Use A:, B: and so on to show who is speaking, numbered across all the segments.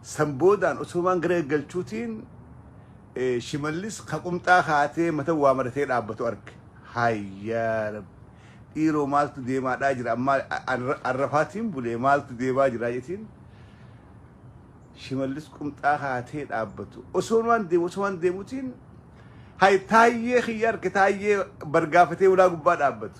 A: San boodaan Usoomaan gara eeggalchuutiin Shimallis ka qumxaa kaatee mata waa maratee dhaabbatu arge. Hayyaa rabbi. Dhiiroo maaltu deemaadhaa jira ammaa arrafaatiin bulee maaltu deemaa jira jetiin. Shimallis qumxaa kaatee dhaabbatu. Osoomaan deemu osoomaan deemutiin hay taayyee kiyya arge taayyee bargaafatee ulaa gubbaa dhaabbatu.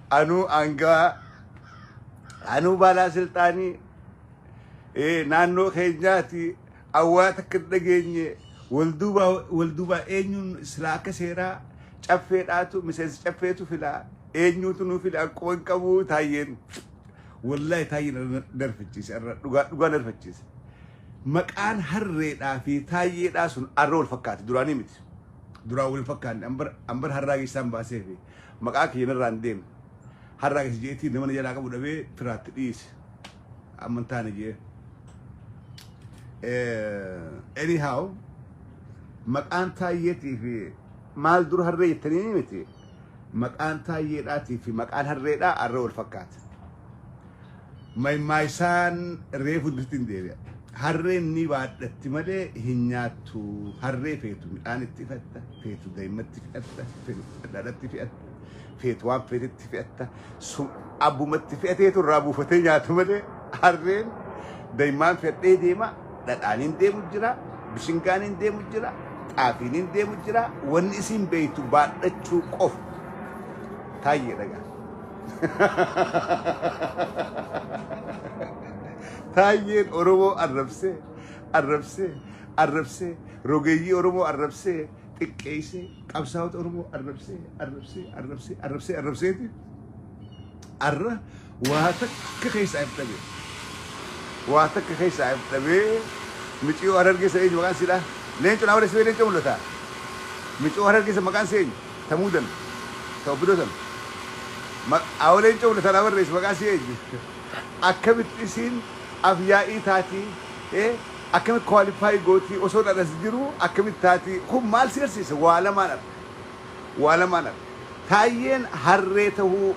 A: Anuu aangawaa anuu baalaa silxaanii ee, naannoo keenyaati awwaa takka hin dhageenye wal duuba wal duuba eenyuun silaa akka seeraa caffeedhaatu miseensa caffeetu filaa eenyuutu nuu file akkuma hin qabu taayyeen wallahi taayyeen narfachiise irra dhugaa dhugaa narfachiise maqaan harreedhaa fi taayyeedhaa sun arra wal fakkaate duraanii miti duraan wal fakkaanne ambar ambar harraa geessaan baasee fi maqaa kiyya narraa hin deemne. Har'a akkas jeetii nama na jalaa qabu dhabee firaatti dhiise. Amma hin taane jee. Eh, Anyhow, maqaan taayyeetii fi maal dura harree jettanii miti. Maqaan taayyeedhaatii fi maqaan harreedhaa harree wal fakkaata. Maymaaysaan reefu dutti hin deebi'a. Harreen ni baadhatti malee hin nyaattu. Harree feetu midhaan itti fe'atta, feetu daa'immatti fe'atta, feetu dhadhaatti fe'atta, feetu waan feetetti fe'atta. Sun abbumatti fe'ateetu irraa buufatee nyaata malee harreen daa'immaan fe'adhee deema, dhadhaan hin deemu jira, bishingaan hin deemu jira, xaafiin hin deemu jira. Wanni isiin beektu baadhachuu qofa. Taayyee dhagaa. Taayyeen Oromoo arrabsee, arrabsee, arrabsee, rogeeyyii Oromoo arrabsee, xiqqeessee, qabsaa'ota Oromoo arrabsee, arrabsee, arrabsee, arrabsee, arrabseeti. Arra waa takka keessaa hin dhabee. Waa takka keessaa hin dhabee. Miciyoo harargeessa eenyu maqaan siidhaa? Leencu naa odeessee leencu mul'ataa? Miciyoo harargeessa maqaan seenyu? Ta muudan ta opdo san maq aa waleen cufna tanaa barreessi maqaa isii eenyu akkamitti isiin af yaa'ii taatii ee akkamitti qualify gootii osoon an as jiruu akkamitti taatii kun maal si garsiisa waa lamaan arka waa lamaan arka taayyeen harree tahuu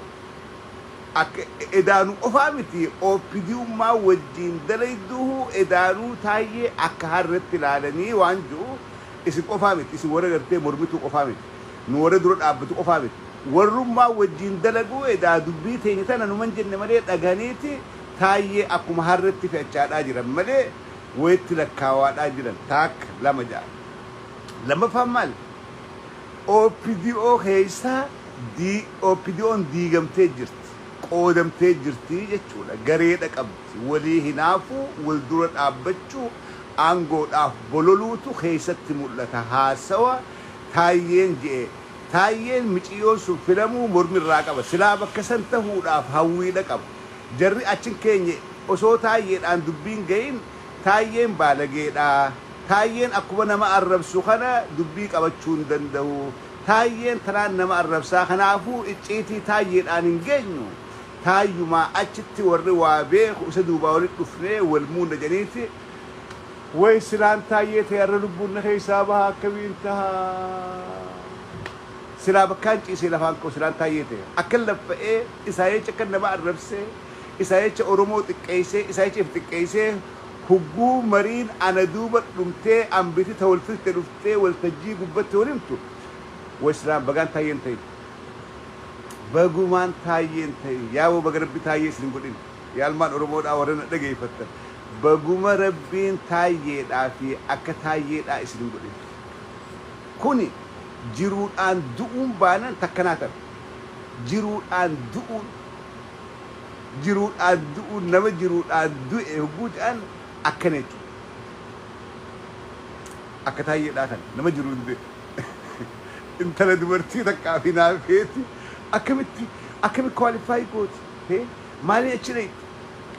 A: akka edaanu qofaa miti opdummaa wajjiin dalayduuhuu edaanuu taayyee akka harretti laalanii waan ju'u Isin qofaa miti, isin warra gartee mormituu qofaa miti, nu warra dura dhaabbatu qofaa miti. Warrummaan wajjiin dalaguu edaa dubbii teenya tana numan jenne malee dhagahaniiti Taayyee akkuma harretti fe'achaadhaa jiran malee wayitti lakkaawaadhaa jiran taakka lama ja'a. Lammaffaan maali? OPDO keessaa OPDOn diigamtee jirti, qoodamtee jirti jechuudha. Gareedha qabdi. Walii hinaafuu, wal dura dhaabbachuu. aangoodhaaf bololuutu keessatti mul'ata haasawa Taayyeen je'e. Taayyeen miciyyoon sun filamuu mormi irraa qaba. Silaa bakka san tahuudhaaf hawwiidha qaba. Jarri achi hin keenye osoo Taayyeedhaan dubbiin gayin Taayyeen baalageedha, Taayyeen akkuma nama arrabsu kana dubbii qabachuu hin dandahu, Taayyeen tanaan nama arrabsaa kanaafuu icciitii Taayyeedhaan hin geenyu, Taayyumaa achitti warri waa beeku isa duubaa walitti dhufnee wal muunna jedhaniiti. Way silaan Taayyee ta'e har'a lubbuun na keessaa baha akkamiin taha? Silaa bakkaan ciisee lafaan ka'u silaan Taayyee ta'e akkan laffa'ee isaa jecha akkan nama arrabsee, isaa jecha Oromoo xiqqeessee, isaa jecha if xiqqeessee hugguu mariin ana duuba dhumtee ambiti ta wal filte dhuftee waltajjii gubbatti wal himtu way silaan bagaan Taayyee hin ta'in. Bagumaan Taayyee hin tahin. Yaa wbo baga rabbi taayyee isin hin godhin yaa ilmaan oromoodhaa warra na dhageeffattan baguma rabbiin taayyeedhaa fi akka taayyeedhaa isin hin godhin kuni jiruudhaan du'uun baanan takka naa tana jiruudhaan du'uun jiruudhaan du'uun nama jiruudhaan du'e hogguu ta'an akkana jechuudha akka taayyeedhaa kana nama jiruun du'e. Intala dubartii takkaaf hinaafeeti akkamitti akkami qualify gooti hee maalii achi dhayxi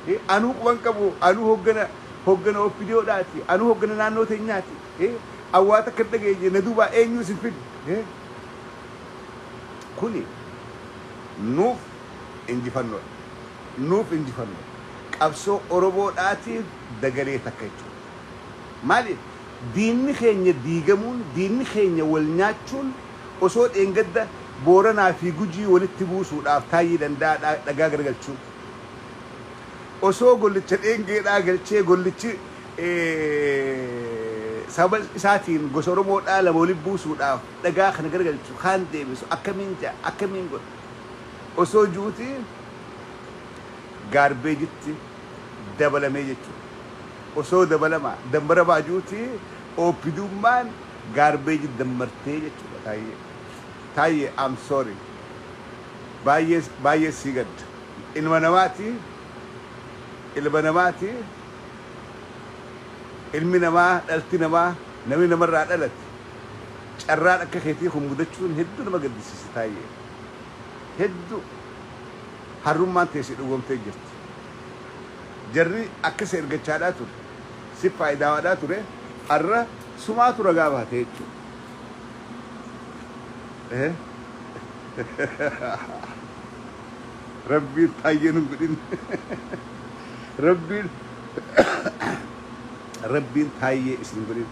A: hee anuu quban qabu anuu hoggana hoggana opdo dhaati anuu hoggana naannoo teenyaati hee awwaa takka dhageenye na duubaa eenyuu isin fide hee kuni nuuf injifannoodha nuuf injifannoodha qabsoo oromoo dhaatiif dagalee takka jechuudha Maali? Diinni keenya diigamuun, diinni keenya wal nyaachuun osoo dheengadda Booranaa fi Gujii walitti buusuudhaaf Taayyee Danda'aa dhagaa garagalchuu osoo gollicha dheengeedhaa galchee gollichi sababa isaatiin gosa Oromoodhaa lama walitti buusuudhaaf dhagaa kana garagalchu kaan deebisu akkamiin ja'a akkamiin godha osoo ju'uutii gaarbeejitti dabalamee jechuudha. Osoo dabalama dambara baajuuti OPDUmmaan garbage dammartee jechuudha Taayyee. Taayyee I'm sorry. Baay'ee baay'ee sii gadda. Ilma namaati ilma namaati ilmi namaa dhalti namaa namni namarraa dhalate carraan akka keetii kun mudachuun hedduu nama gaddisiisa Taayyee. Hedduu harrummaan tee si dhugoomtee jirti. jarri akkasi ergachaadhaa ture sif faayidaawaadhaa ture harra sumaatu ragaa baate jechuu rabbiin faayyee nun godhin rabbiin rabbiin faayyee isin godhin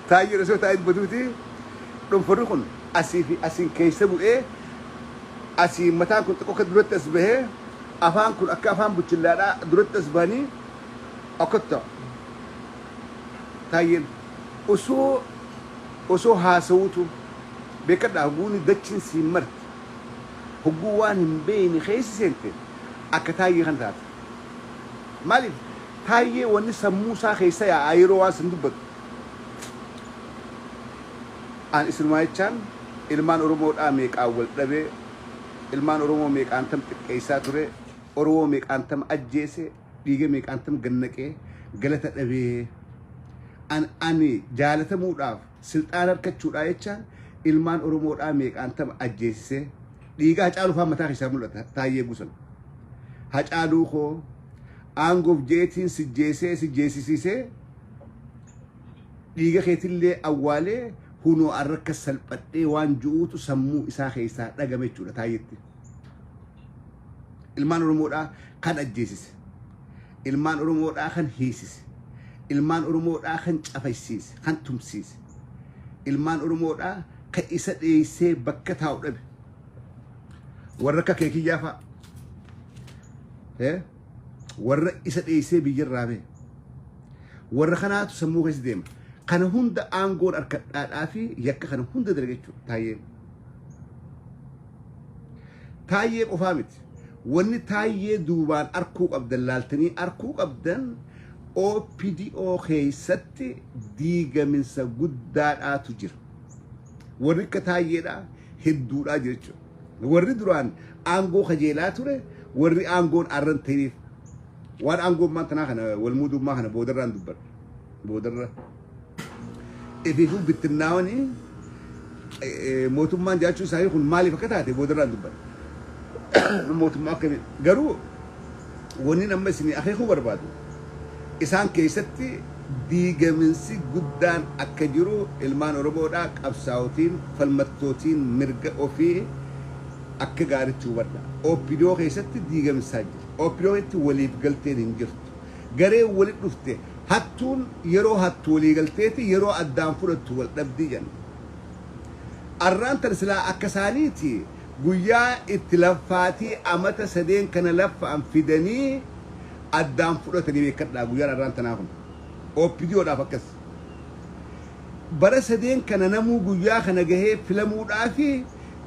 A: taayyee osoo taa'in baduuti Dhonforri kun asii fi asiin keessa bu'ee asiin mataan kun xiqqoo akka duratti as bahee afaan kun akka afaan buchillaadhaa duratti as bahanii akkas ta'a. Taayyeen osoo osoo haasawuutu beekadhaa hoguuni dachiin siin marti hoguu waan hin beeyne keessa seente akka taayyee kana taata. Maaliif taayyee wanni sammuu isaa keessa yaa'aa yeroo waan san dubbatu. An isinumaa'ichaan ilmaan oromoodhaa meeqaan waldhabee ilmaan oromoo meeqaantam xiqqeessaa turee oromoo meeqaantam ajjeese dhiiga meeqaantam gad naqee galata dhabee an ani jaalatamuudhaaf silxaana arkachuudhaa jechaan ilmaan oromoodhaa meeqaantam ajjeesisee dhiiga hacaaluu faan mataa keessaa mul'ata taayyee gusan hacaaluu koo aangoof jeetiin sijjeesee sijjeesisiisee Dhiiga keetillee awwaalee hunoo arra akkas salphadhee waan ju'uutu sammuu isaa keessaa dhagame jechuudha Taayyetti. Ilmaan Oromoodhaa kan ajjeesise, ilmaan Oromoodhaa kan hiisise, ilmaan Oromoodhaa kan cafaysiise, kan tumsiise, ilmaan Oromoodhaa kan isa dheessee bakka taa'u dhabe. Warra akka kee kiyyaa fa'a. Eh? warra isa dheessee biyya irraa ba'e warra kanaatu sammuu keessa deema kana hunda aangoon harkadhaadhaa fi yakka kana hunda dalaga jechuudha taayee taayee qofaa miti wanni taayee duubaan arkuu qabdan laaltanii arkuu qabdan OPDO keessatti diigaminsa guddaadhaatu jira warri akka taayeedhaa hedduudhaa jira jechuudha Warri duraan aangoo kajeelaa ture warri aangoon arran ta'eef waan aangoo ammaan tanaa kana wal muudummaa kana boodarraan dubbadha. Boodarra ifiifuu bittinnaawanii mootummaan jiraachuu isaanii kun maaliif akka taate boodarraan dubbadha. Mootummaa akkamii garuu Wannin amma isinii akeekuu barbaadu, isaan keessatti diigaminsi guddaan akka jiru ilmaan Oromoodhaa qabsaa'otiin, falmattootiin mirga ofii akka gaaritti hubadhaa. Opdo keessatti diigamsaa jira. Opdo keessatti waliif galteen hin jirtu. Gareen walitti dhufte hattuun yeroo hattu walii galteeti, yeroo addaan fudhattu wal dhabdi jenna. Arraan tana silaa akka isaaniiti Guyyaa itti laffaatii amata sadeen kana laffa'an fidanii addaan fudhatanii beekkadhaa guyyaan arraan tanaa kun opdo dhaaf akkas bara sadeen kana namuu guyyaa kana gahee filamuu dhaafi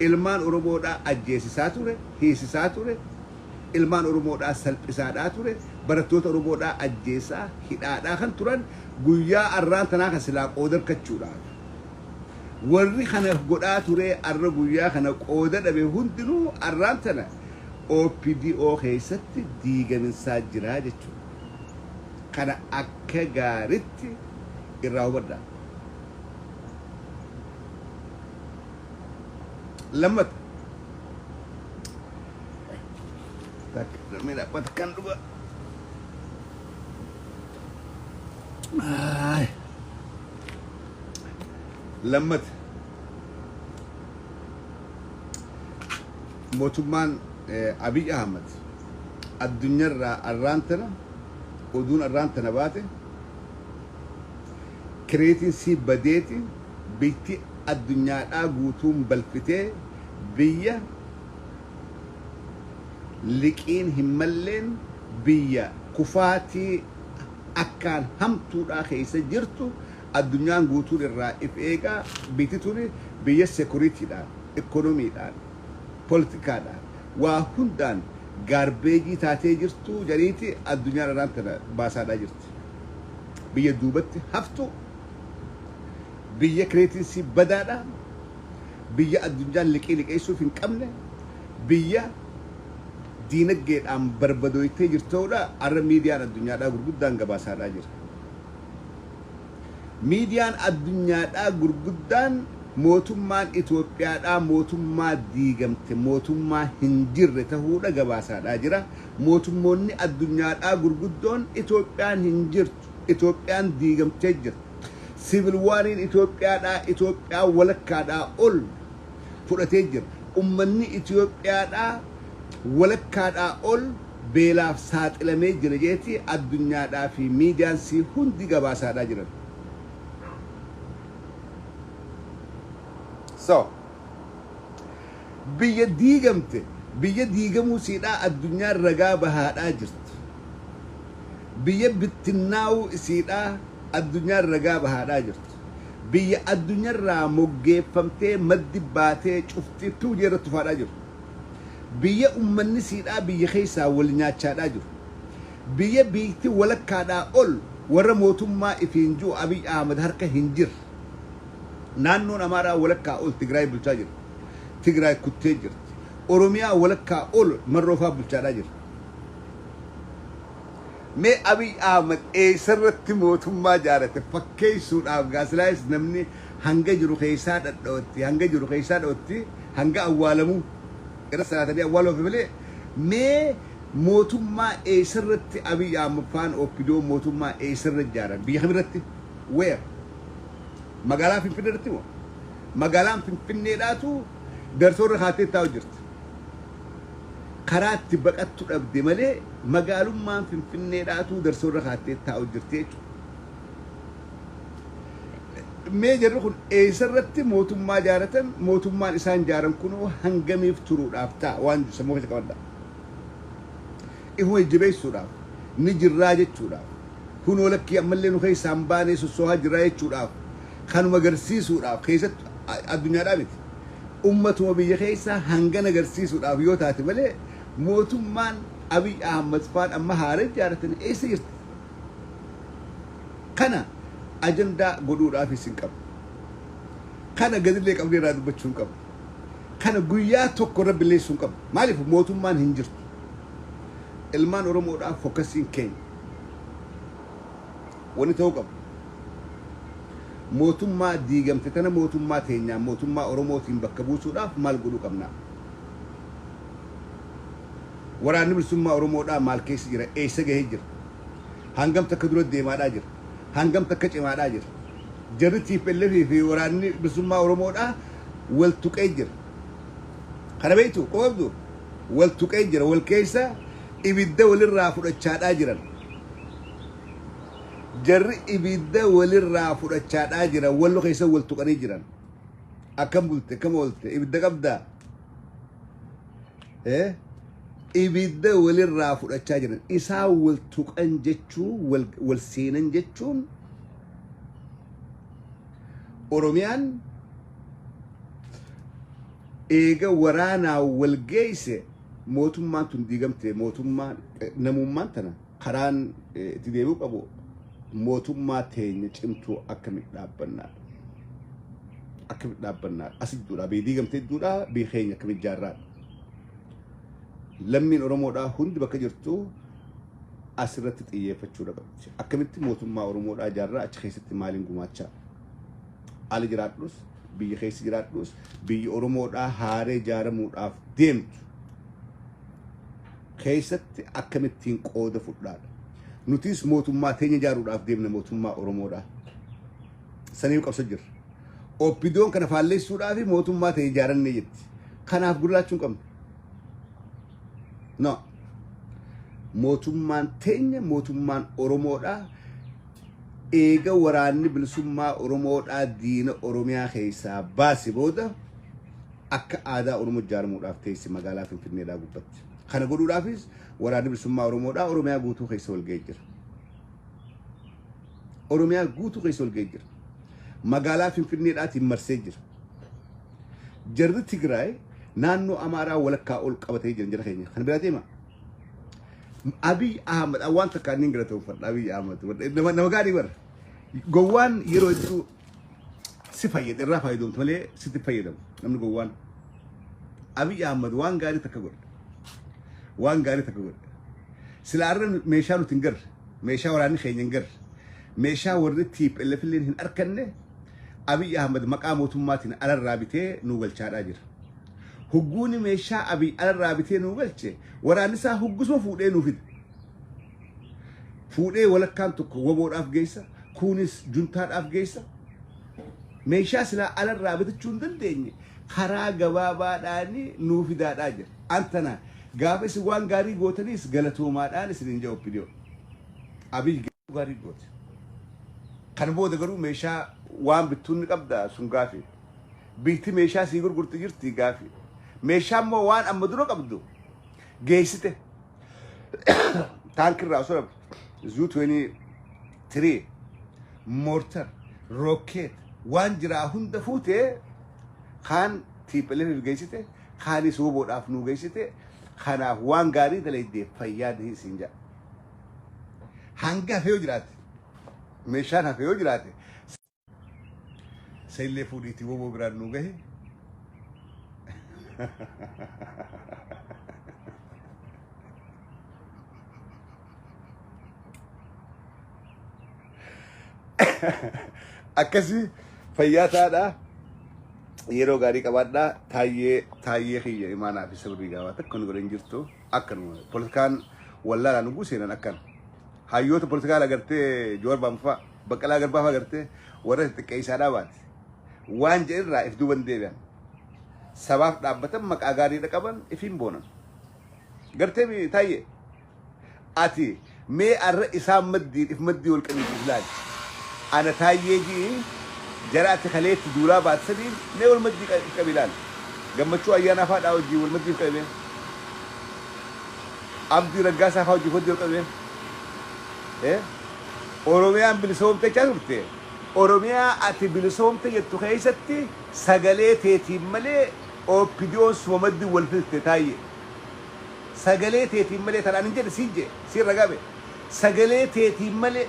A: ilmaan oromoo dhaa ajjeesisaa ture hiisisaa ture ilmaan oromoo dhaa salphisaa dhaa ture barattoota oromoo dhaa ajjeesaa hidhaa dhaa kan turan guyyaa arraan tanaa kan silaa qoodarkachuu dhaaf Warri kana godhaa turee arra guyyaa kana qooda dhabe hundinuu arraan tana OPDO keessatti diigaminsaa jiraa jechuudha. Kana akka gaaritti irraa hubadhaa. Lammata. Takka namni dhaabbata kan dhugaa. Aay. Lammata mootummaan Abiy Ahmad addunyarraa arraan tana oduun arraan tana baate kireetiin sii badeeti biyyatti addunyaadhaa guutuun balfitee biyya liqiin hin malleen biyya kufaatii akkaan hamtuudhaa keessa jirtu Addunyaan guutuun irraa if eegaa biyyti tuni biyya security dhaan, economy dhaan, political dhaan waa hundaan gaarbeejii taatee jirtuu jariiti addunyaan araan tana baasaadhaa jirti. Biyya duubatti haftuu, biyya creating isii badaa dha, biyya addunyaan liqii liqeessuuf hin qabne, biyya diinaggee dhaan barbadooytee jirtau dha arra miidiyaan addunyaadhaa gurguddaan gabaasaadhaa jira. Miidiyaan addunyaadhaa gurguddaan mootummaan Itoophiyaadhaa mootummaa diigamte, mootummaa hin jirre tahuudha gabaasaadhaa jira. Mootummoonni addunyaadhaa gurguddoon Itoophiyaan hin jirtu, Itoophiyaan diigamtee jirti, Civil War'n Itoophiyaadhaa, Itoophiyaa walakkaadhaa ol fudhatee jira. Ummanni Itoophiyaadhaa walakkaadhaa ol beelaaf saaxilamee jira jeeti addunyaadhaa fi miidiyaan sii hundi gabaasaadhaa jiran. So, biyya diigamte, biyya diigamuu siidhaa addunyaan ragaa bahaadhaa jirti. Biyya bittinnaa'uu isiidhaa addunyaan ragaa bahaadhaa jirti. biyya addunyarraa moggeeffamtee maddi baatee cufti tuu jeerra tufaadhaa jiru. Biyya ummanni siidhaa biyya keessaa wal nyaachaadhaa jiru. Biyya biyytti walakkaadhaa ol warra mootummaa ifiin ji'u Abiy Ahmad harka hin jirre. Naannoon Amaaraa walakkaa ol Tigraay bulchaa jira. Tigraay kuttee jirti. Oromiyaa walakkaa ol Marroofaa bulchaadhaa jira. Mee Abiy Ahmed eessarratti mootummaa jaarate fakkeessuudhaaf gaasilaayis namni hanga jiru keessaa dhadha'utti, hanga jiru keessaa dha'utti, hanga awwaalamuu irra salaatanii awwaaluu hafe malee mee mootummaa eessarratti Abiy Ahmed faan OPDOn mootummaa eessarra ijaaran? Biyya kamirratti? Where? Magaalaa Finfinneerratti moo? Magaalaan Finfinneedhaatu dartoorra kaattee taa'u jirti. karaa itti baqattu dhabde malee magaalummaan Finfinneedhaatuu darsoo irra kaattee taa'u jirti jechuudha. Mee jarri kun eessarratti mootummaa jaaratan mootummaan isaan jaaran kunoo hangamiif turuudhaaf ta'a waan jedhu sammuu keessa qabadhaa. Ifuma jajjabeessuudhaaf ni jirraa jechuudhaaf kunoo lakkii ammallee nu keessaa hin baanee sossoohaa jirraa jechuudhaaf kanuma agarsiisuudhaaf keessatti addunyaadhaa miti. Ummatuma biyya keessaa hangan agarsiisuudhaaf yoo taate malee mootummaan Abiy Ahmad faan amma haara ijaaratan eessa jirti? Kana ajandaa godhuudhaafis hin qabnu. Kana gadillee qabnee irraa dubbachuu hin qabnu. Kana guyyaa tokko irra billeessuu hin qabnu. Maaliif mootummaan hin jirtu. Ilmaan Oromoodhaaf fokkasiin keenya. Wani ta'uu qabu mootummaa diigamte tana mootummaa teenyaan mootummaa Oromootiin bakka buusuudhaaf maal godhuu qabnaa? Waraanni Bilisummaa Oromoodhaa maal keessa jira? Eessa gahee jira? Hangam takka dura deemaadhaa jira? Hangam takka cimaadhaa jira? Jarri TPLF fi waraanni Bilisummaa Oromoodhaa wal tuqee jira. Kana beektu quba qabdu wal tuqee jira wal keessa ibidda walirraa fudhachaadhaa jiran. Jarri ibidda walirraa fudhachaadhaa jiran wallo keessa wal tuqanii jiran. Akkam bulte akkam oolte ibidda qabdaa? Eh? Ibidda walirraa fudhachaa jiran isaa wal tuqan jechuun wal, wal seenan jechuun Oromiyaan eega waraanaa wal geeyse mootummaan tun diigamte mootummaan eh, namummaan tana Karaan itti deebi'uu qabu mootummaa teenya cimtuu akkamitti dhaabbannaadha. Akkamitti dhaabbannaadha. As idduudha. Biyyi diigamte idduudha. Biyyi keenya akkamitti jaarraadha. Lammiin Oromoodhaa hundi bakka jirtu asirratti xiyyeeffachuu dhabatti. Akkamitti mootummaa Oromoodhaa jaarraa achi keessatti maaliin gumaachaa? Ala jiraadhus, biyya keessa jiraadhus, biyyi Oromoodhaa haaree jaaramuudhaaf deemtu keessatti akkamittiin qooda fudhaadha. Nutis mootummaa teenya ijaaruudhaaf deemna mootummaa Oromoodha. Saniif qabsa jirra. Oppidoon kana faalleessuudhaa fi mootummaa ta'e ijaarannee jetti. Kanaaf gurraachuu hin qabnu. No. Mootummaan teenya mootummaan Oromoodha. Eega waraanni bilisummaa Oromoodhaa diina Oromiyaa keessaa baase booda akka aadaa Oromoo ijaaramuudhaaf teessi magaalaa Finfinneedhaa gubbatti. Kana godhuudhaafis waraanni bilisummaa Oromoodhaa Oromiyaa guutuu keessa walga'ee jira. Oromiyaa guutuu keessa walga'ee jira. Magaalaa Finfinneedhaatiin marsee jira. Jarri Tigraay naannoo Amaaraa walakkaa ol qabatee jiran jara keenya. Kan biraa deema. Abiy Ahmad waan takka inni hin galatoomfadha Abiy Ahmad. Nama gaarii bara. Gowwaan yeroo hedduu si fayyada irraa fayyadamtu malee sitti fayyadamu namni gowwaan Abiy Ahmad waan gaarii takka godhe waan gaarii takka godhe silaa irra meeshaa nuti hin garre meeshaa waraanni keenya hin garre meeshaa warri TPLF illee hin arkanne Abiy Ahmad maqaa mootummaatiin alarraa bitee nuu galchaadhaa jira. Hugguuni meeshaa Abiy alarraa bitee nuu galche waraanni isaa huggusuma fuudhee nuu fide. fuudhee walakkaan tokko waboodhaaf geessa kuunis juntaadhaaf geessa meeshaa silaa alarraa bitachuu hin dandeenye karaa gabaabaadhaan nuu fidaadhaa jira antana gaafa isin waan gaarii gootaniis galatoomaadhaan isin hin jedhu opidiyoo abiy gaarii goote kan booda garuu meeshaa waan bittuun ni qabda sun gaafii biitti meeshaa sii gurgurti jirti gaafii meeshaa immoo waan amma dura qabdu geessite Taankii irraa osoo zuu 23 moortar rookeet waan jiraa hunda fuutee kaan tiipheleef geessite kaanis woboodhaaf nuu geessite kanaaf waan gaarii dalaydee fayyaa dihin siin jedha. Hanga hafee yoo jiraate meeshaan hafee yoo jiraate Isa illee fuudhiitii woboo biraan nu gahe. Akkasii fayyaa taadhaa. yeroo gaarii qabaadhaa taayyee taayyee kiyya imaanaa fi sirrii gaafaa takka nu godhan jirtu akkanuma politikaan wallaalaa nu guuseenan akkana hayyoota politikaa lagartee joorbaanfaa Baqqalaa Garbaa fa'aa gartee warra xixiqqeessaadhaa baate. Waan jedhirraa if duuban deebi'an. Sabaaf dhaabbatan maqaa gaariidha qaban ifiin boonan. Gartee mi taayye. Ati mee arra isaan maddiin if maddii wal qabiitu ilaali. Ana taayyee ji'i jara ati kaleetti duulaa baate sadiin mee wal maddii qa- if qabi ilaali. Gammachuu ayyaanaa fa'aa dhaa wajjin wal maddii if qabi mee. Abdii raggaasaa fa'aa wajjin wal maddii wal qabi mee. Eh? Oromiyaan bilisoomte jechaa turte. Oromiyaa ati bilisoomte jettu keessatti sagalee teetiin malee OPDOn suma maddi wal fixte Taayye. Sagalee teetiin malee tan anin jedhe siin jedhe siin ragaa bahe. Sagalee teetiin malee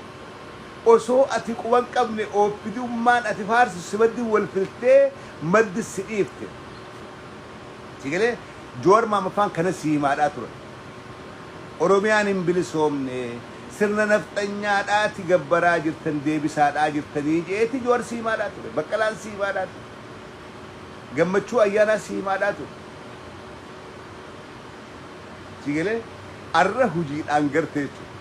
A: osoo ati quba hin qabne OPDUmmaan ati faarsitu si maddi wal fixtee maddi si dhiifte. Sii galee? Jawar Maammaffaan kanan sii himaadhaa ture. Oromiyaan hin bilisoomne sirna nafxanyaadhaati gabbaraa jirtan deebisaadhaa jirtanii je'eeti Jawar si himaadhaa ture. Baqqalaan si himaadhaa ture. Gammachuu Ayyaanaa si himaadhaa ture. Sii galee? Arra hujiidhaan garte jechuudha.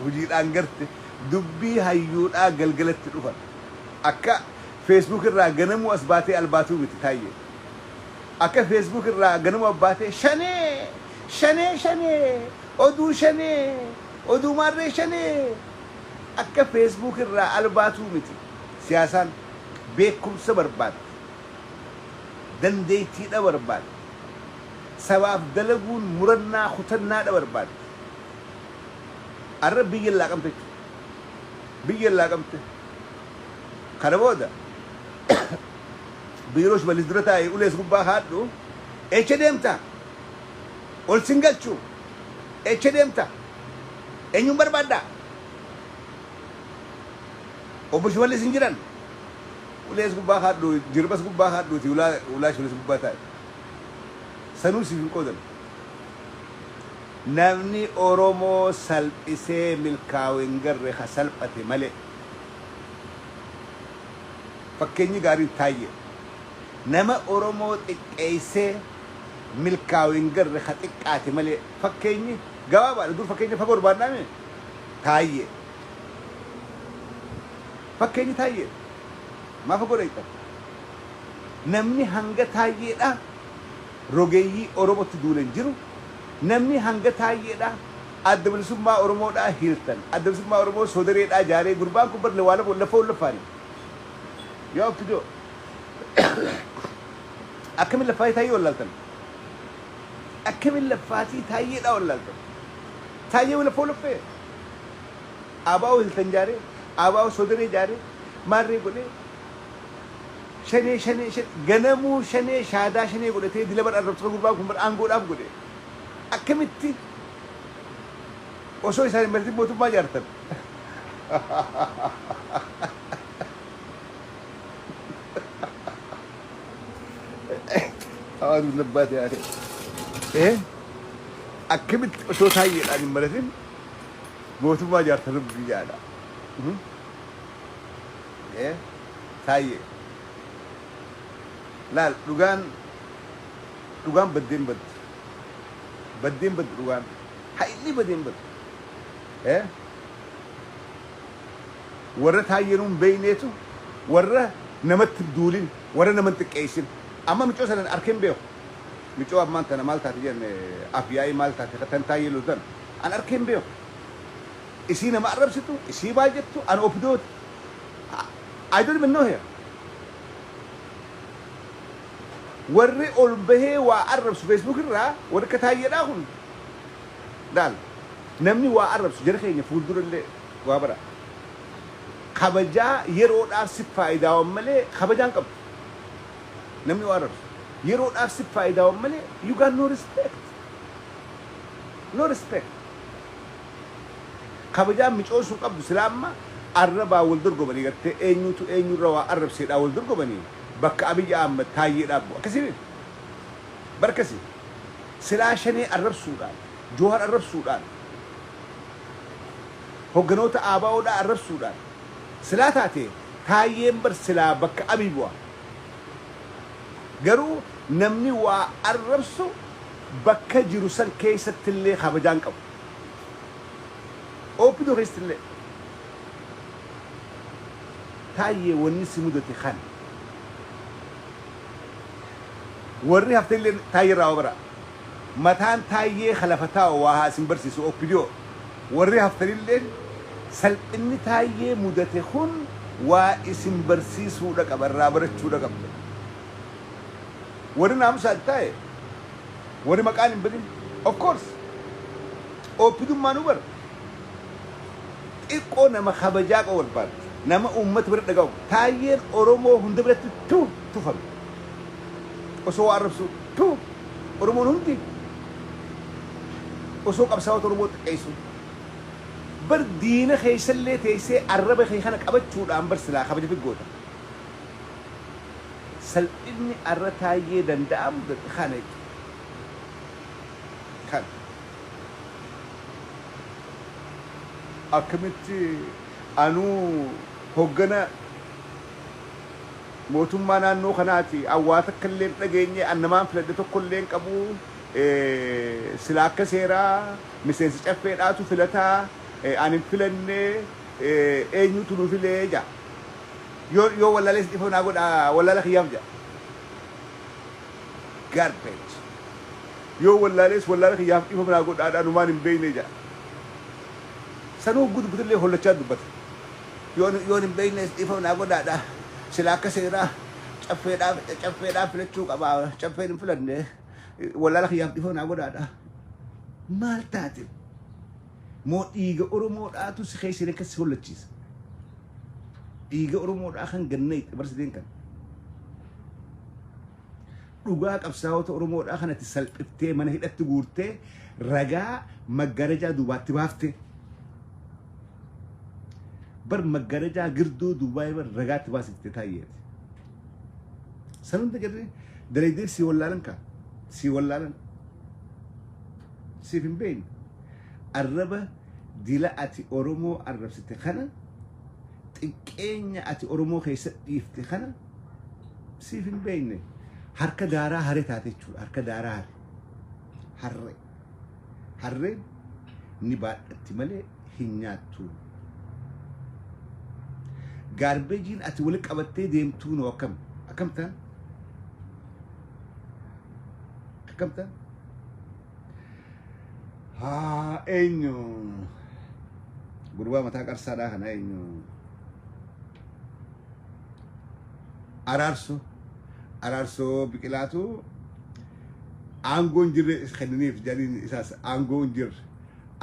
A: Hujiidhaan garte dubbii hayyuudhaa galgalatti dhufan. Akka Facebook irraa ganamuu as baatee albaatuu miti Taayyee. Akka Facebook irraa ganama baatee shanee! Shanee shanee! Oduu shanee! Oduu maarree shanee! Akka Facebook irraa al baatuu miti. Siyaasaan beekumsa barbaaddi. Dandeettiidha barbaaddi. Sabaaf dalaguun murannaa kutannaadha barbaaddi. Arra biyya laaqamte jechuudha. Biyya laaqamte. Kana booda Biiroo shimallis dura taa'i ulees gubbaa kaadhu eecha deemta ol sin galchu eecha deemta eenyuun barbaadda obbo shimallis hin jiran ulees gubbaa kaadhu jirbas gubbaa kaadhuuti ulaa ulaa shimallis gubbaa taa'i sanuu siif hin qoodan namni oromoo salphisee milkaawe hin garre ka salphate malee Fakkeenyi gaariin Taayyee nama Oromoo xiqqeessee milkaawe hin garre ka xiqqaate malee fakkeenyi gabaabaadha dur fakkeenya fagoo barbaannaa mee Taayyee fakkeenyi Taayyee maa fagoo dhayxan namni hanga Taayyeedhaa rogeeyyii Oromotti duule hin jiru namni hanga Taayyeedhaa Adda bilisummaa oromoo dhaa hiirtan adda bilisummaa oromoo soodaree dhaa jaaree gurbaan kun bar lewaa lama laffoo hin laffaane yaa oppidoo akkamin laffaatii taayyee wallaaltan akkamin laffaatii taayyee dhaa wallaaltan taayyee laffoo laffee abaa'oo hiltan jaaree abaa'oo soodaree jaaree maarree godhee shanee shanee shanee ganamuu shanee shaadaa shanee godhatee dila bar arrabsoo gurbaan kun bar aangoodhaaf godhe akkamitti Osoo isaan hin mari'atin mootummaa ijaartan. Hawaasni labbaa ta'e. Ee akkamitti osoo taayyeedhaan hin mari'atin mootummaa ijaartan rabbi jaadha. Ee taayyee. Laal dhugaan dhugaan baddeen baddi. Baddee hin baddu dhugaan. Hayilli badee hin badu. Eh? Warra taayyee nuun beeyneetu warra namatti hin duulin, warra nama hin xiqqeessin. Amma micoo sanan arkee hin beeku. Micoo ammaan tana maal taate jenne afyaa'ii maal taate ka tan taayyee loltan an arkee hin beeku. Isii nama arrabsitu, isii maal jettu an opidooti. I don't even know her. Warri ol bahee waa arrabsu Facebook irraa warri akka Taayyedhaa kun laal namni waa arrabsu jara keenya fuuldura illee waa bara kabajaa yeroodhaaf sif faayidaawan malee kabajaa hin qabdu namni waa arrabsu yeroodhaaf sif faayidaawan malee you got no respect no respect kabajaa micoon sun qabdu silaa amma arrabaa wal dorgomanii gartee eenyuutu eenyurra waa arrabseedhaa wal dorgomanii Bakka Abiy Ahmed Taayyee dhaabbu akkasii beektu? Bar kasi silaa Shanee arrabsuudhaan, Jowhar arrabsuudhaan, hogganoota ABO dhaa arrabsuudhaan silaa taatee Taayyeen bar silaa bakka Abiy bu'a. Garuu namni waa arrabsu bakka jiru san keessatti illee kabajaa hin qabu. Opdo keessatti illee. Taayyee wanni si mudate kana. Warri haftelleen Taayyerraa waa baraa. Mataan Taayyee ka lafa taa'u waa haa isin barsiisu opdo. Warri haftanilleen salphinni Taayyee mudate kun waa isin barsiisuudha qaba, irraa barachuudha qabdan. Warri naamusaan taa'e, warri maqaan hin badin, of course! Opdummaanuu bar xiqqoo nama kabajaa qabu barbaaddi. Nama uummata bira dhagahamu. Taayyeen Oromoo hunda biratti tuu tufame. Osoo waa arrabsuu tuu Oromoon hundi osoo qabsaawota Oromoo xiqqeessuu. Bar diina keessallee teessee arraba kee kana qabachuudhaan bar silaa kabaja fi goota. Salphinni arra Taayyee Danda'aa mudate kana jechuudha. Kana. Akkamitti anuu hoggana mootummaa naannoo kanaati awwaa takka illee hin dhageenye an namaan filadhe tokko illee hin qabu silaa akka seeraa miseensa caffeedhaatu filata an hin filanne eenyutu nu file jedha yoo yoo wallaalees dhifama naa godha wallaala kiyyaaf jedha Garbage. Yoo wallaalees wallaala kiyyaaf dhiifama naa godhaadha anumaan hin beekne jedha. Sanuu hogguu dubbatallee hollachaa dubbata. Yoon yoon hin beeknees dhiifama naa godhaadha. Silaa akka seeraa caffeedhaaf caffeedhaaf filachuu qaba. Caffeen hin filanne. Wallaala kiyyaaf dhiifama naa godhaadha. Maal taate? moo dhiiga Oromoo dhaatu si keessa hidhee akkas si hollachiisa? Dhiiga Oromoo dhaa kan ganna itti barsiteen kan. Dhugaa qabsaa'ota Oromoo dhaa kan ati salphiftee mana hidhatti guurtee ragaa maggarajaa duubaatti baaftee. Bar maggarajaa girduu duubaa bar ragaatti baasiftee taayyeeti. San hunda garri dalaydee si wallaalan kaa si wallaalan. Siif hin beeyne. Arraba dila ati Oromoo arrabsite kana, xiqqeenya ati Oromoo keessa dhiifte kana siif hin beeyne. Harka daaraa hare taate jechuudha. Harka daaraa hare. Harre. Harreen ni baadhatti malee hin nyaattu. Gaarbeejiin ati wali qabattee deemtuu noo akkam? Akkam ta'a? Akkam ta'a? haa eenyu gurbaa mataa qarsaadhaa kana eenyu araarsu araarsu biqilaatu aangoo hin jirre kenniniif jedhaniin isaas aangoo hin jirre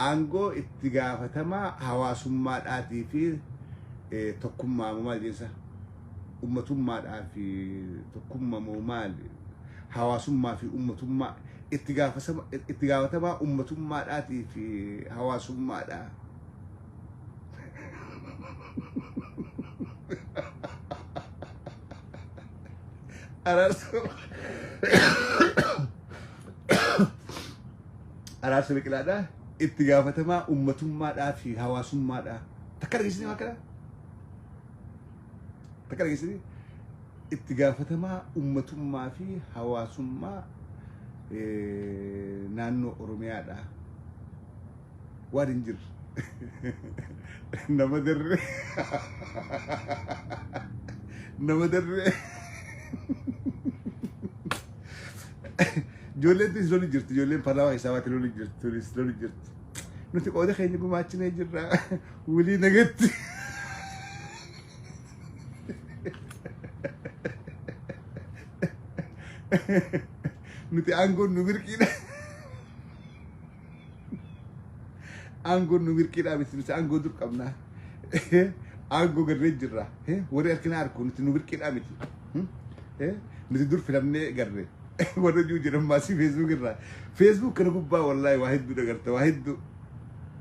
A: aangoo itti gaafatamaa hawaasummaadhaatii fi eh, tokkummaa maal jensa ummatummaadhaa fi tokkumma moo maali hawaasummaa fi ummatummaa itti gaafasama itti gaafatamaa ummatummaadhaatii fi hawaasummaadha. Araarsa araarsa biqilaadha itti gaafatamaa ummatummaadhaa fi hawaasummaadha takka dhageessanii waan kana Takka dhageessanii itti gaafatamaa ummatummaa fi hawaasummaa naannoo Oromiyaadha. Waan hin jirre. Nama darbe. Nama darbe. Ijoolleen tunis loli jirti. Ijoolleen paarlaamaa keessaa baate loli jirti. Tunis loli jirti. Nuti qooda keenya gumaachinee jirra. Wly nagatti. Nuti aangoon nu birqiidha. Aangoon nu birqiidha miti nuti aangoo dur qabna. Aangoo garree jirra. Warri harkina harku nuti nu birqiidha miti. Nuti dur filamnee garree. Warra jiru jedhan maasii feesbuuk irraa. Feesbuuk kana gubbaa wallaahi waa hedduu dagarta waa hedduu.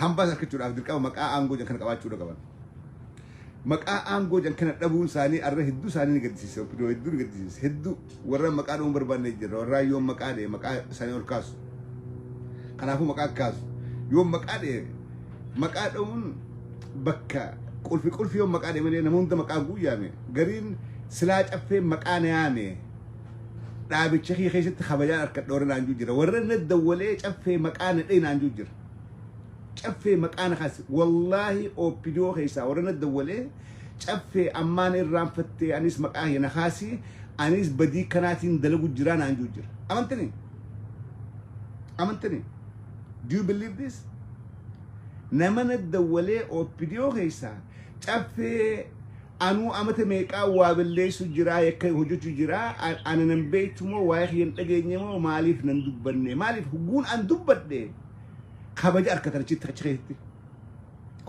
A: Hambaa harkachuudhaaf dirqama maqaa aangoo jedhan kana qabaachuu irra qaban. Maqaa aangoo jedhan kana dhabuun isaanii arra hedduu isaanii ni gaddisiise. Oppidoo hedduu ni gaddisiise. Hedduu warra maqaa dha'uu hin barbaanne jirra. Warra yoom maqaa dha'e maqaa isaanii ol kaasu. Kanaafuu maqaa kaasu. Yoom maqaa dha'e maqaa dha'uun bakka qulfi qulfi yoom maqaa dha'e malee nama hunda maqaa guuyyaame. Gariin silaa caffee maqaa na yaame. Dhaabicha kee keessatti kabajaan harka dhoorri naan jira. Warra na dawwalee caffee maqaa na dha'e naan jira. Caffee maqaana kaase wallaahi OPDO keessaa warra na dawwalee caffee ammaan irraanfattee anis maqaa kee na kaasii anis badii kanaatiin dalagu jiraa naan juu jira. Amantanii? Amantanii? Do you believe this? Nama na dawwalee OPDO keessaa Caffee anuu amata meeqaa waa balleessu jiraa yakka hojjechu jiraa ana nan beektu moo waa'ee kiyya hin dhageenye moo maaliif nan dubbanne maaliif hugguun an dubbadhe kabaja arkatan achitti achi keessatti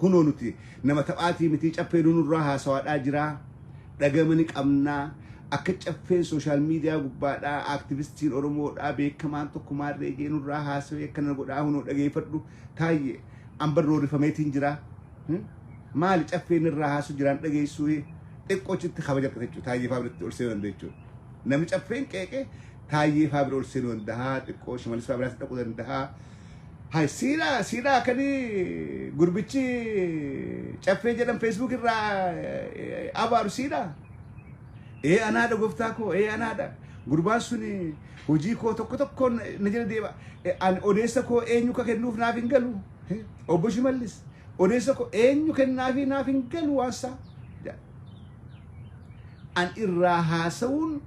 A: kunoo nuti nama taphaatii mitii caffee nunurraa haasawaadhaa jiraa dhagama ni qabnaa akka caffeen sooshaal miidiyaa gubbaadhaa aktivistiin oromoodhaa beekamaan tokko maarree jeenurraa haasawee akkana godhaa hunoo dhageeffadhu Taayye amban roorifameetiin jira. Maali caffeen irraa haasu jiraan dhageessuu xiqqoo chitti kabaja argata jechuudha. Taayyee fa'aa biratti ol seenuu danda'a jechuudha. Namni caffeen qeeqe taayyee fa'aa bira ol seenuu danda'a. Xiqqoo shimalis fa'aa biraas dhaquu danda'a. Hay siidhaa siidhaa kanii gurbichi caffee jedhan feesbuuk irraa abaaru siidhaa. Ee anaadha gooftaa koo ee anaadha. Gurbaan suni Hojii koo tokko tokkoon na jala deema. Eh, Ani odeessa koo eenyu akka kennuuf naaf hin galu. Eh, Obbo Shimallis odeessa koo eenyu kennaafii naaf hin galu waansaa. jedha. An irraa haasa'uun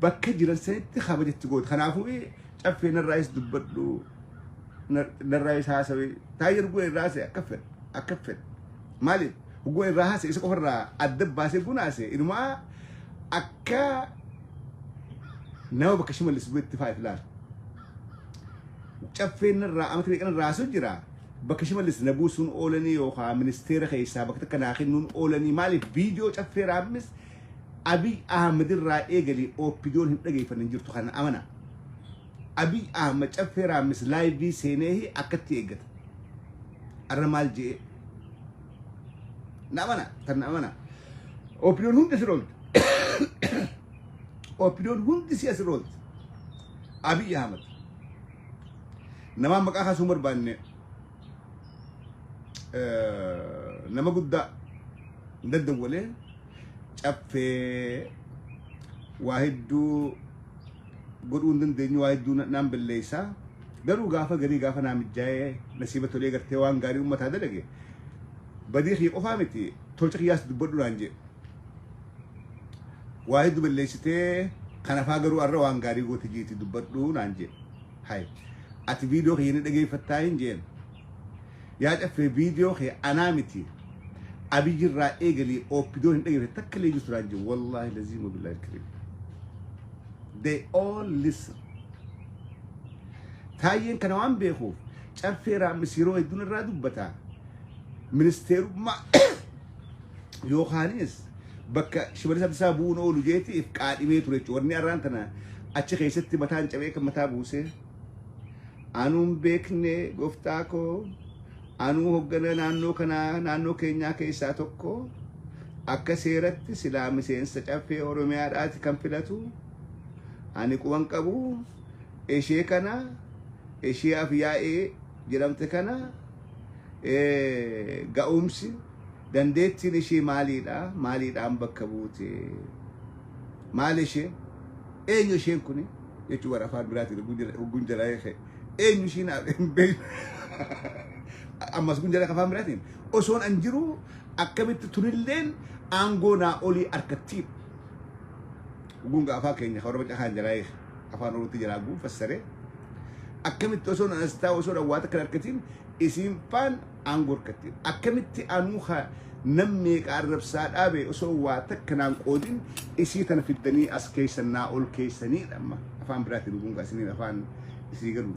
A: bakka jiran sanitti kabajatti goote. Kanaafuu eh, caffee narraayis dubbadhu na- narraayis haasawee taayir goo irraa haasa'e akka fedhe akka fedhe. Maaliif goo irraa haasa'e isa qofarraa adda baasee gunaase inumaa akka Nama bakka shimallis bu'etti fa'aa ilaali. Caffeen irraa amata meeqan irraa haasuu jira. Bakka shimallis na buusuun oolanii yookaan ministeera keessaa bakka takka naa kennuun oolanii maaliif viidiyoo caffee raammis Abiy Ahmed irraa eegalee OPDOn hin dhageeffanne hin jirtu kana amana. Abiy Ahmed caffee raammis laayivii seenee akkatti eeggata. Arra maal je'ee? Na amana, tan na amana. Opinion hundi si roolti. Opinion hundi si asi roolti. Abiy Ahmed. Namaan maqaa kaasuu hin barbaanne eh, nama guddaa daddawalee caffee waa hedduu godhuu hin dandeenyu waa hedduu na- naan balleessaa. Garuu gaafa garii gaafa naa mijjaa'ee nasiiba tolee gartee waan gaarii ummataa dalage badii kiyya qofaa miti tolcha kiyyaas dubbadhu naan jee. Waa heddu balleessitee kanafaa garuu arra waan gaarii goote jiiti dubbadhu naan jee. Hay ati viidiyoo kiyya ni dhageeffattaa hin jeen. Yaa caffee viidiyoo kee anaa miti abiyyi irraa eegalii ooppidoon hin dhageeffatte takka illee jirtu naan jee. Wallaahi laziim wabillahi alkariim. They all listen. Taayyeen kana waan beekuuf caffee raammis yeroo hedduun irraa dubbata. Ministeerummaa yookaanis bakka shimalisa isaa bu'uun oolu jeetiif qaadhimee ture jechuudha. Warni arraan tana achi keessatti mataan cabee kan mataa buusee. Anuun beekne gooftaa koo anuu hoggana naannoo kanaa naannoo keenyaa keessaa tokko akka seeratti silaa miseensa caffee Oromiyaadhaati kan filatu. Ani quban qabu ishee kana ishee afyaa'ee jedhamte kana ga'umsi dandeettiin ishee maaliidha maaliidhaan bakka buute maal ishee eenyu isheen kun jechuu bara afaan biraatiin hogguun jalaa eekee eenyu isheen hin beekne ammas kun jala afaan biraatiin osoon an jiru akkamitti tunilleen aangoo naa olii harkattiidha. gunga afaan keenya kan warra caqaan jalaa eege afaan oromootti jalaa guun fassaree akkamitti osoo na astaa osoo na waata kan harkatiin isiin faan aangoo harkattiin akkamitti anuu ha nam meeqa arrabsaa dhaabe osoo waa takka naan qoodin isii tana fiddanii as keessa naa ol keessanii dhamma afaan biraatiin gunga isiniin afaan isii garuu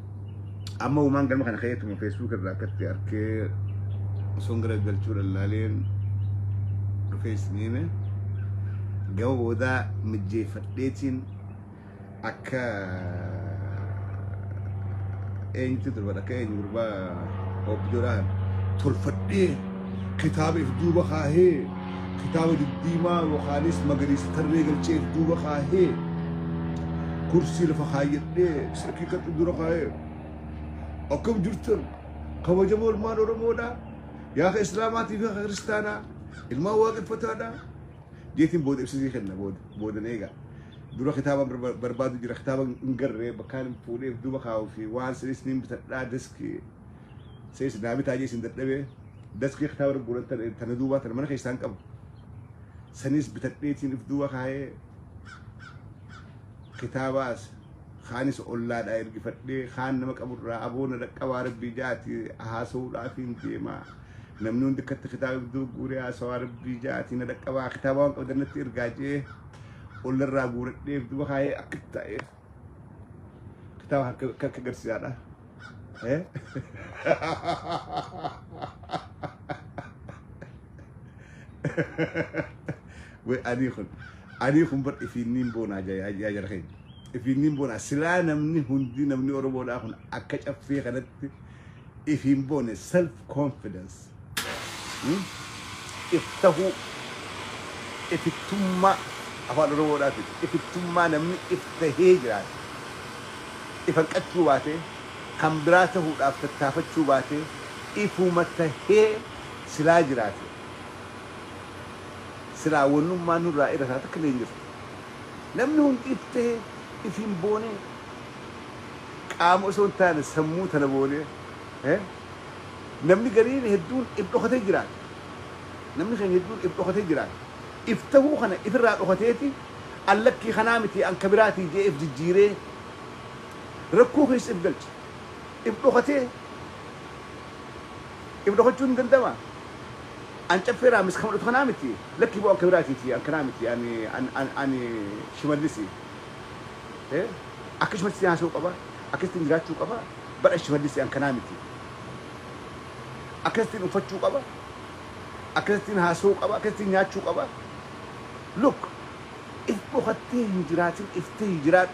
A: Amma uumaan galma kana keetuma Facebook irraa akkatti arkee osoon gara galchuu lallaaleen dhufee isiniime gama boodaa mijjeeffadheetiin akka eenyutti turban akka eenyu gurbaa objoodhaan tolfadhee kitaaba if duuba kaahee kitaaba diddiimaa yookaanis magariisa tarree galchee if duuba kaahee kursii lafa kaayyadhee Haqiiqatti dura kaa'eera. Akkam jirtan kabajamoo ilmaan Oromoodhaa yaa ka Islaamaatii fi ka Kiristaanaa ilmaan waaqeffataadhaa jeetiin booda ibsisii kenna booda boodan eegaa. Dura kitaaba barba- barbaadu jira kitaaba hin garree bakkaan hin fuudheef duba kaa'uu fi waan sinis niin bitadhaa deski sees naa bitaa jee isin dadhabee deski kitaaba irra guuratan tana duubaa tana mana keessaan qabu sanis bitadheetiin if duuba kaa'ee kitaabaas kaanis ollaadhaa ergifadhee kaan nama qaburraa aboona dhaqqabaa rabbii jaati haasa'uudhaaf hin deema namni hundi akkatti kitaaba iddoo guuree haasawaa rabbii jaati na dhaqqabaa kitaaba waan qabdan natti ergaa jee ollarraa guuradheef duba kaayee akka ta'eef kitaaba akka akka garsiisaadha. Eh? Wai ani kun ani kun bar ifiinniin boonaa yaa jara keenya. Ifiinniin boonaa silaa namni hundi namni Oromoodhaa kun akka caffee kanatti ifiin boone self confidence. Iftahuu, ifittummaa Afaan Oromoodhaatiin ifittummaa namni iftahee jiraate, ifanqachuu baatee, kan biraa tahuudhaaf tattaafachuu baatee, ifuma tahee silaa jiraate, silaa wannummaan nurraa irra taha takkallee hin jirtu. Namni hundi iftahee, ifiin boonee, qaama osoo hin taane sammuu tana boonee, Namni gariin hedduun if dhokatee jiraata. Namni keenya hedduun if dhokatee jiraata. If tahuu kana if irraa dhokateeti an lakkii kanaa miti an ka biraatii je'ee if jijjiiree rakkoo keessa if galcha. If dhokatee if dhokachuun ni danda'amaa? An caffee raamis ka mudhatu kanaa miti lakkii boo an ka biraatiiti an kanaa miti an an an shimallisi. Ee akka shimallisii haasa'uu qaba. Akkasittiin jiraachuu qaba. Bara Shimallissi ankanaa miti. Akkasittiin uffachuu qaba, akkasittiin haasa'uu qaba, akkasittiin nyaachuu qaba. Look! If dhokattii hin jiraatin iftee jiraadhu.